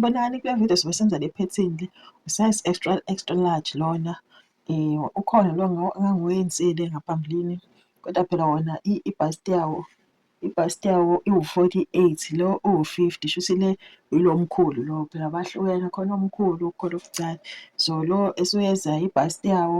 Bonani kule video sobe senza le pattern le size extra extra large lona eh ukhona lo ngangiwenzile ngaphambilini kodwa phela wona ibust yawo ibust yawo iwu-48 lo uwu-50 shuthi le yilo mkhulu lo phela bahlukene khona omkhulu khona obuncane so lo esuyeza ibust yawo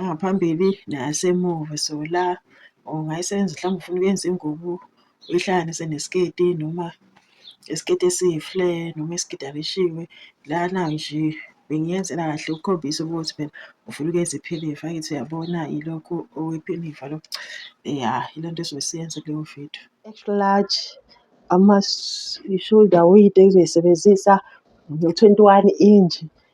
engaphambili nasemuva so la ungayisenza mhlawumbe ufuna ukuyenza ingubo uyihlanganise nesiketi noma isiketi esiyifle noma isiketi abishiwe lana nje bengiyenzela kahle ukukhombisa ukuthi phela ufuna ukuyenza iphinifa ngithi uyabona yilokhu okwephinifa lokho ya yile nto esuke siyenza kuleyo video large ama-shoulder weight ezoyisebenzisa no-twenty-one inch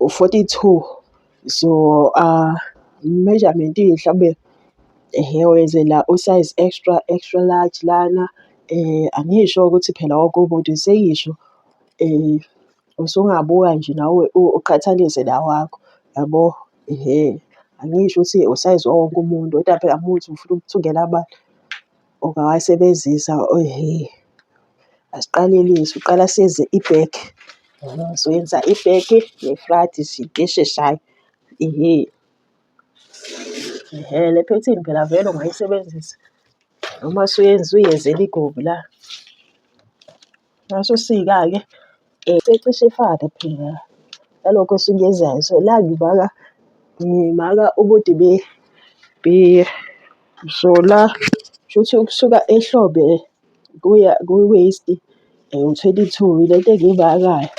u-42 so uh, measurement mhlawumbe ehe wenzela usize extra extra large lana eh angisho ukuthi phela wonke umuntu seyisho eh usungabuka nje nawe uqhathanise la wakho yabo ehe angisho ukuthi usize wonke umuntu kodwa phela muthi ufuna ukuthungela abantu ungawasebenzisa asiqalelise uqala senze i-bag soyenza i-bag ne-flat izinto esheshayo ehe. Ehe, le phethini phela vele ungayisebenzisa noma usuyenza uyenzela igomu la. Ngaso sika-ke um secishe ifane phela nalokho esuke ezayo. So, la ngimaka ngimaka ubude bepheya. So, la kushuthi ukusuka ehlombe kuya ku-waist u-twenty two, yilento engiyimakayo.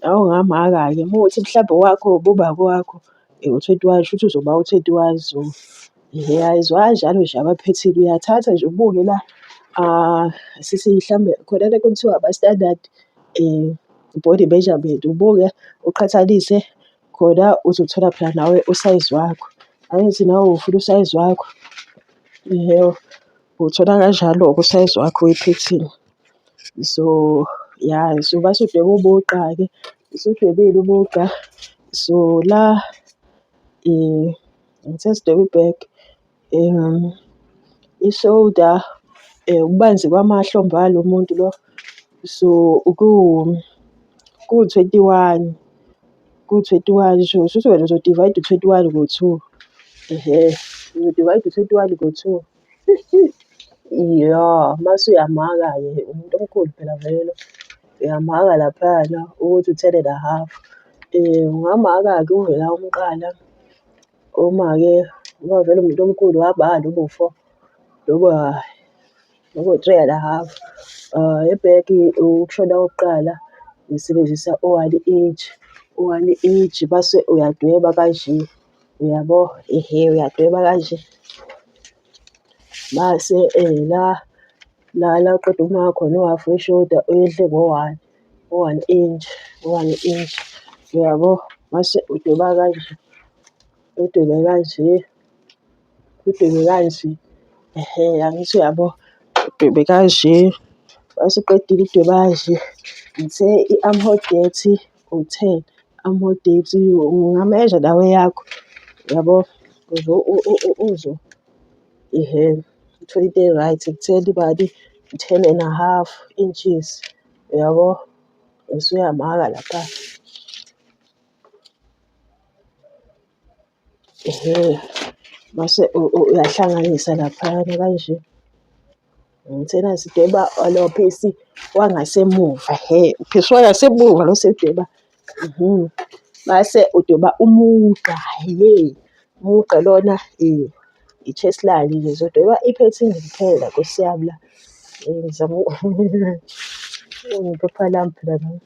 Nawe ungamaka-ke uma kuwukuthi mhlawumbe owakho ububa kowakho. Uthethe wazi shuthi uzoba uthethe wazi o. Ngiyayizwa kanjalo nje abaphethile uyathatha nje ubuke la ah, sisi mhlambe khona le nto okuthiwa ama-standard um body measurement ubuke uqhathanise khona uzothola phela nawe usayizi wakho. Angithi nawe ufuna usayizi wakho . Uwuthola kanjalo-ke usayizi wakho wephethini. So, ya so base udweba umugqa-ke, usudwebile umugqa. So, la sesidweba i-bag, i-shoulder, ububanzi kwamahlombe alo muntu lo. So, kuwu-twenty one, kuwu-twenty one sho, shuthi wena uzo-divide u-twenty one ngo-two, ehe, uzo-divide u-twenty one ngo-two. Iya, mase uyamaka-ke umuntu omkhulu phela vele lo. Uyamaka laphayana ukuthi u-ten and a half. Ungamaka-ke uvela umqala, umake uma vele umuntu omkhulu wabala ubuwufo noma ubu-three and a half. Ebheki ukushona kokuqala ngisebenzisa u-one inch, u-one inch mase uyadweba kanje. Uyabo? Ehe, uyadweba kanje. Mase eh la la la uqeda uma khona uhafu weshoda uyehle ngo-one u-one inch u-one inch uyabo mase udweba kanje udwebe kanje udwebe kanje ehe angithi uyabo udwebe kanje mase uqedile udweba kanje ngithe i-armhole date uthe ama-holiday's ungamezha lawa eyakho yabo ukuze uzwe ihhene. Uthole into e-right ekutheni imali u-ten and a half inches yabo, usuyamaka lapha. Ehhe, mase uyahlanganisa laphayana kanje. Ngithena sidweba lo phisi wangasemuva hhe, uphisi wangasemuva lo siwudweba. Mhm. Mase udweba umugqa hhe, umugqa lona i-chest line nje. Ngizodweba iphethini nje kuphela nkosi yami la. Ngizama iphepha lami phela leli.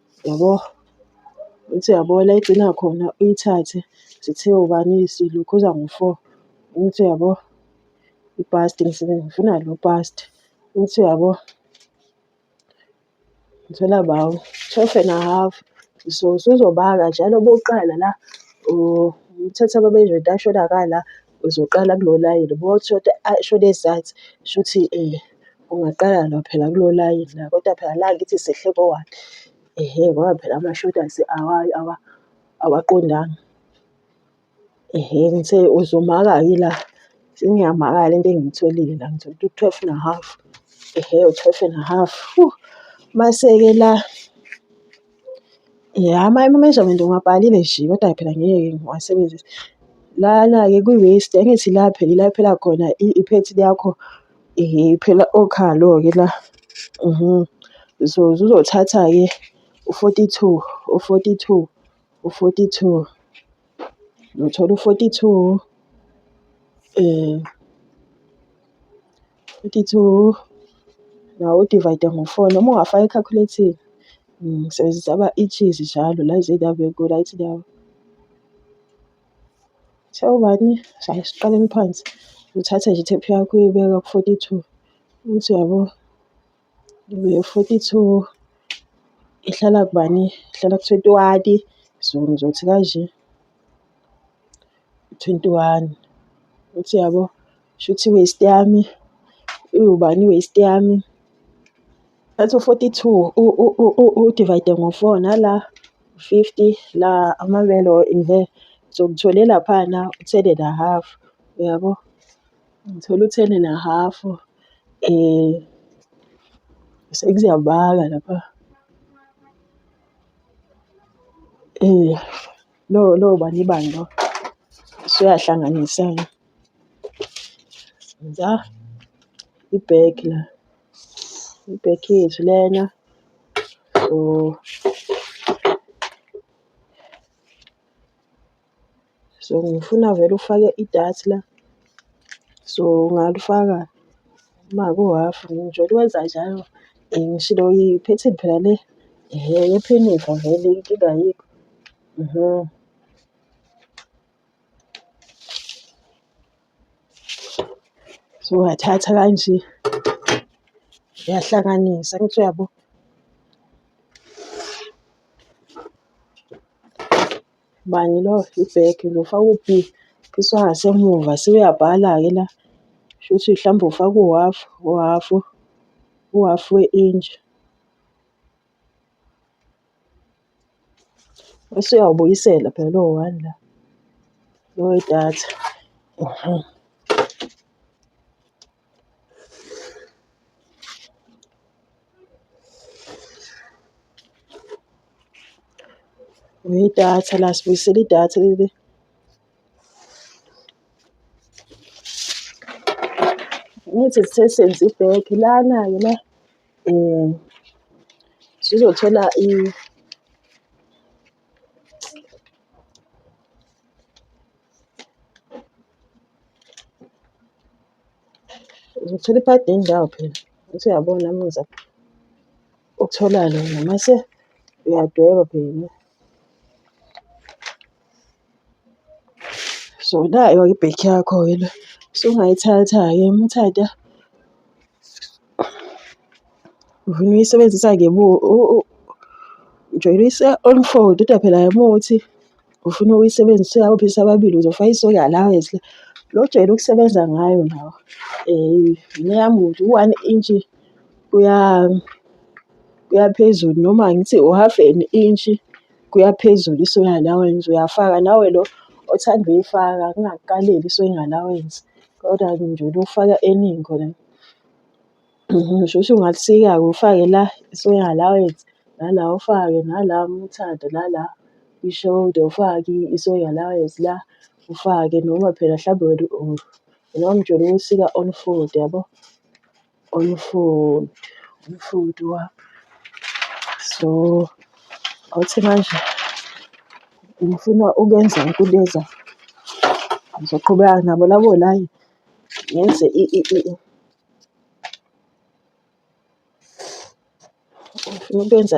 Yabo? Uthi uyabona la egcina khona uyithathe sithe ubani silokhuza ngo-four. Uthi uyabo? Ipasti emsebenzini ngifuna lo pasti. Uthi uyabo? Ngithola bawo twelve and a half. So usuzobala njalo bokuqala la uthatha ababezwe into asho la. Uzoqala kulo layini uma uthi shode ezansi shuthi um ungaqala la phela kulo layini la kodwa phela la angithi sehle kowakhe. Ehhe ngoba phela amashodi awaqondanga. Ehhe ngithe uzomaka-ke la sengiyamangala le nto engiyitholile la ngithole ukuthi u-twelve and a half. Ehhe u-twelve and a half mase-ke la. Ya ama-measurement ngiwabhalile nje kodwa phela ngeke ngiwasebenzise. Lana-ke kwi-waist angithi la phela ila kuphela khona i-pant yakho phela okhalo-ke la. So zizothatha-ke u-forty two, u-forty two, u-forty two. ngithola u-42 eh 42 nawo udivayide ngo-4 noma ungafaka ekhakhuletini ngisebenzisa mm, ama-inches njalo la zindawo enkulu ayithi ndawo sewubani shaye siqaleni phansi uthathe nje ithephu yakho uyibeka ku-42 uthi yabo Forty two ihlala kubani? Ihlala ku-twenty one-i, so ngizothi kanje, twenty one. Uthi uyabo? Shuthi i-waist yami iwubani i-waist yami? Ngathi u-forty two uwudivayide ngo-four, nala u-fifty, la amabele or . So ngithole laphana uthele nahhafu, uyabo? Ngithola u-ten and a half um sekuziyabala lapha um lo lo bani bani lo usuyahlanganisana za ibheki la ibheki yethu lena so So ngifuna vele ufake idati la. So ungalifaka uma kuhhafu ngijwayele ukwenza njalo. Eh, ngishilo iphethini phela le ehhe yephinifa vele inkinga ayikho. Mhm. So uyathatha kanje uyahlanganisa angithi uyabo. Bani lo i-bag lo ufaka uphi? Phisa ngasemuva sewuyabhala-ke la. Shuthi mhlawumbe ufaka uhhafu, uhhafu, uhhafu we-intshi. Bese uyawubuyisela phela lo one la, lo wedatha . Idatha la sibuyisela idatha leli. Ngithi sithe senze i-back lana-ke la sizothola Ngithola ipadi yendawo phela ukuthi uyabona muza ukuthola lona mase uyadweba phela. So nayo ibhekhi yakho wena sungayithatha-ke uma uthatha uvuna uyisebenzisa ujoyinisa unfold kodwa phela uma uthi ufuna ukuyisebenzisa uyawuphisa ababili uzofaka isoka la wezila lo ojwayele ukusebenza ngayo nawo um yini eyami ukuthi u-one intshi kuya kuya phezulu noma ngithi u-half an intshi. kuyaphezulu i-soy allowance uyafaka nawe lo othanda uyifaka kungakukaleli i-soy allowance kodwa nje ufaka eningi khona ngisho ukuthi ungalisika-ke ufake la i-soy allowance nala ufake nala uma uthanda nala i-shoulder ufake i-soy allowance la ufake noma phela mhlawumbe wena or noma umjolo uwusika on fold yabo. on food on food wami so awuthi manje ngifuna ukwenza ukubeza ngizoqhubeka nabo labo layi ngenze ngifuna ukwenza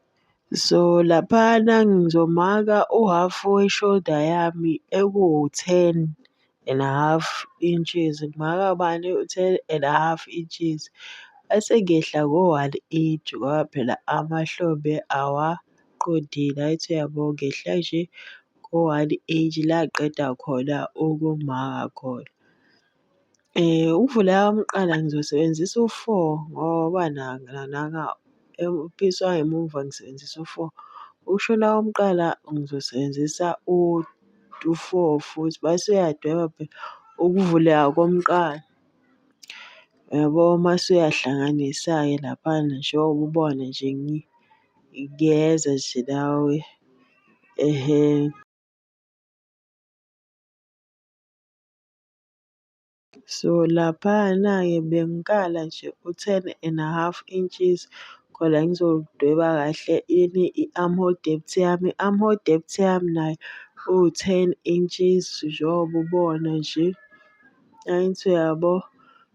So laphana ngizomaka u-half we-shoulder yami ekuwu-ten and a half inches, ngimaka bani u-ten and a half inches. Bese ngiyehla ngo-one inch ngoba phela amahlombe awaqondile angithi uyabo ngehla nje ngo-one inch la ngiqeda khona ukumaka khona. Ukuvula eyawamqala ngizosebenzisa u-four ngoba naka episwa emuva ngisebenzisa u-four. Ukushona komqala ngizosebenzisa u-four futhi mase uyadweba phela ukuvuleka komqala. Uyabo mase uyahlanganisa-ke laphana njengoba ubona nje kuyeza nje nawe . So laphayana-ke bengikala nje u-ten and a half inches khona ngizodweba kahle ini i-arm hole depth yami. I-arm hole depth yami nayo iwu-ten inches njengoba ubona nje. Angithi uyabo?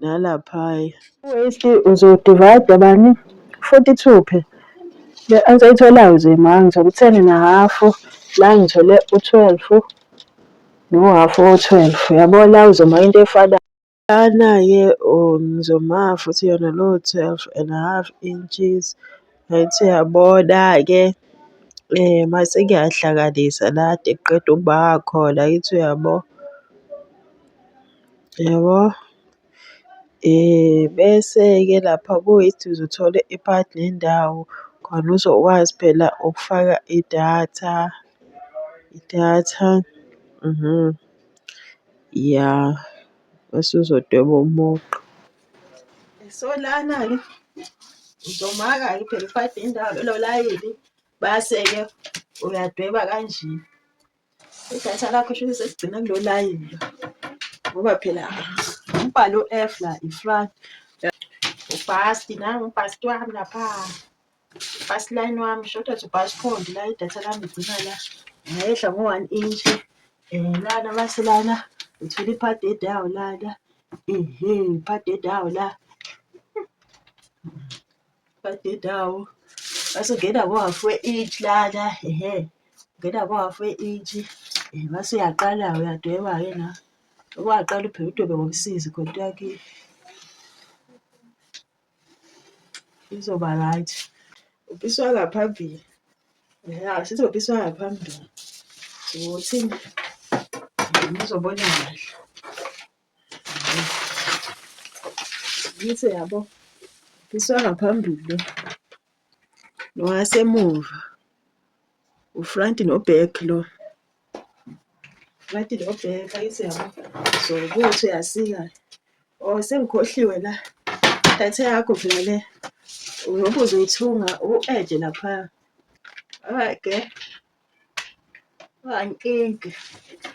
nalaphaya. Waste uzodivayida bani 42 phe le answer itholayo nje ma ngithole u-10 na hafu la ngithole u-12 nohafu o-12 yabo la uzoma into efanayo lana-ke oh, ngizoma futhi yona lowo 12 and a half inches right uyabona-ke um eh, mase ngiyahlanganisa la de kuqeda ukuba khona yithi uyabo Yabo? Bese-ke lapha kuyithi uzothole iphadi lendawo khona uzokwazi phela ukufaka idatha, idatha. Ya, bese uzodweba umugqa. So lana-ke uzomaka-ke phela iphadi lendawo lelo layini, base-ke uyadweba kanje. idatha lakho shuthi seligcina kulo layini lo ngoba phela umbhalo u-f la ifran ubhasti nangu ubhasti wami lapha ubhasti line wami shoda to bhasti phondi la idatha lami ligcina la ngayehla ngo-one inch um lana base lana ngithole iphadede yawo lana ehe iphadede yawo la Badedawo basungena ngohafu we-inch lana ehe ungena ngohafu we-inch eh, mase uyaqala uyadweba-ke na owaqala uphela udwebe ngomsizi konto yakhe izoba right upiswa ngaphambili ya sizopiswa ngaphambili ukuthi ngizobona kahle Ngise yabo. Ngiswa ngaphambili nowasemuva. Ufront noback lo. Ngathi lo bheka isiyabo. So ukuthi uyasika. Oh sengikhohliwe la. Data yakho phela le. Uyobe uzoyithunga u-edge lapha. Alright girl. One inch.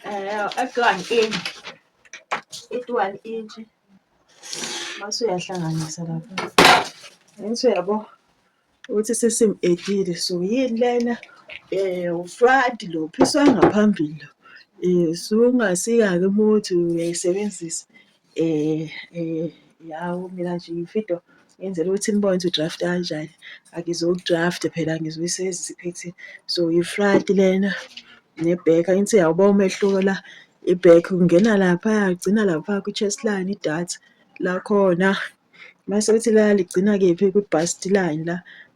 Uh, at one inch. It one inch. Mase uyahlanganisa lapha. Ngise yabo ukuthi sesimedile so yini lena eh ufront lo phiswa ngaphambili lo. Eh sungasika ke muthi uyayisebenzisa. Hawu mina nje ngifuna into ngenzela ukuthi nibone ukuthi u-draft kanjani. Angizowu-draft phela ngizoyisa eziphethini. So i-front lena ne-back angithi uyawuba umehluko la i-back kungena laphaya kugcina lapha kwi-chest line idatha lakhona. Mase kuthi la ligcina kephi kwi-bust line la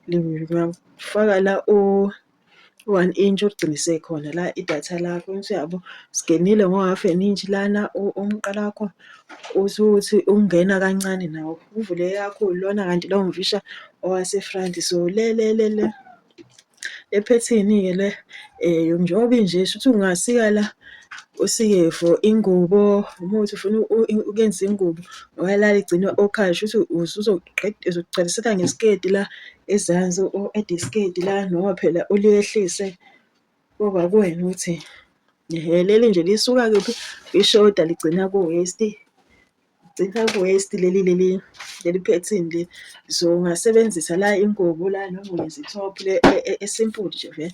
ngiyawufaka la . one inch uligcine isekhona la idatha lakho yabo singenile ngo-half an inch lana umqala wakho usuthi ungena kancane nawo uvule yakho lona kanti lowo mfisha owasefront so le le le le le phethini-ke le um njengoba inje shuthi ungasika la usike for ingubo uma uthi ufuna ukuyenzisa ingubo wayalala igcine okhayo shuthi uzoqaliseka ngesiketi la izansi u-edisketi la noma phela uliyehlise koba kuwena ukuthi leli nje lisuka kuphi ishoda ligcina ku-waist gcina ku-waist leli leli leli phethini le so ungasebenzisa la ingubo la noma uyenza i-top le e-, e-, esimple nje vele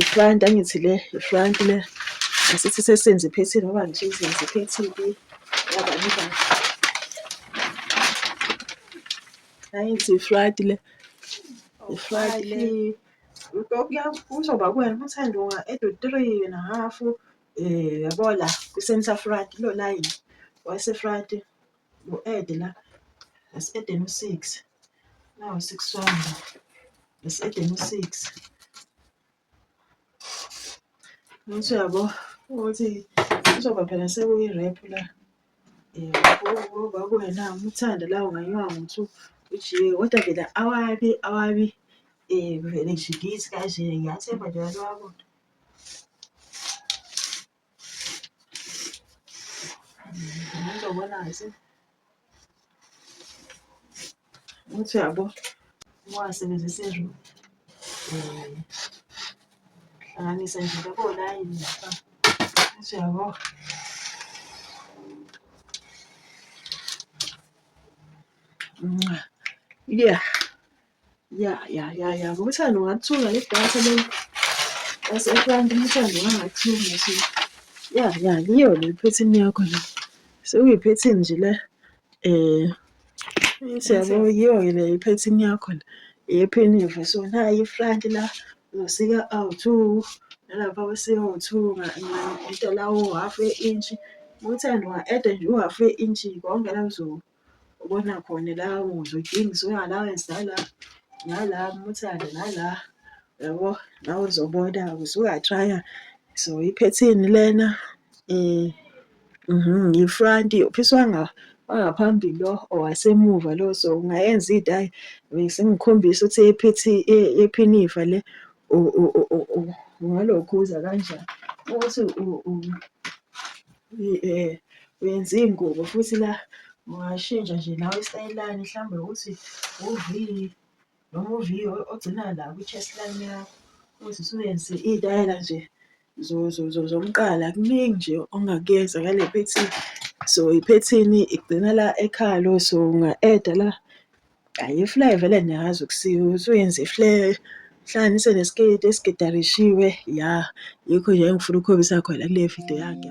Ifront angithi le ifront le asithi sesenze iphethini ngoba nje izenze iphethini yabani bani angithi ifront le ifront le kuzoba kuwena uma uthanda unga-eda u-three and a half um yabo la kwi-centre front kulo layini wase-front ngu-add la ngesi-aden u-six nawo six wami ngesi-aden u-six ngithi uyabo ukuthi kuzoba phela sekuyi-rap la um kwakuwena umuthanda la ungayiwa ngokuthi ujiye kodwa vele awabi awabi um vele nje ngithi kanje ngiyathemba nje abantu bayakude Ngizobonazi. Uthi yabo wasebenzisa izulu. Hlanganisa nje yabo la yini. Uthi yabo. Yeah. ya ya ya ya ngokuthanda ungathunga le data le yaseklandi umthando wangathunga so ya ya yiyo le phethini yakho le sekuyiphethini nje le um siyabo yiyo-ke le iphethini yakho le yephinive so nayi ifront la uzosika awu-two nalapha usika u-two ngento la u-half e-intshi ngokuthanda unga-eda nje u-half e-intshi konke la kuzoba ubona khona la uzwa udingiswa i-allowance nala nala umuthanda nala yabo la uzobona usuka-try-a so iphethini lena um mhm, yi-front uphisa wangaphambili lo owasemuva lo so ungayenza into ayi besengikhombisa ukuthi ephithi e-, ephinifa le ungalokhuza kanjani ukuthi Eh, uyenza iy'ngubo futhi la ungashintsha nje nawe isitayela lani mhlawumbe ukuthi u-V noma u-V ogcina la kwi-chest line yakho ukuthi usuyenze iy'tayela nje zomqala. Kuningi nje ongakuyenza ngale phethini. So iphethini igcina la ekhalo so unga-eda la. Hhayi ifly vele niyazi ukusiwa ukuthi uyenze ifly hlanganise nesketi esigidarishiwe ya yikho nje engifuna ukukhombisa khona kule video yakhe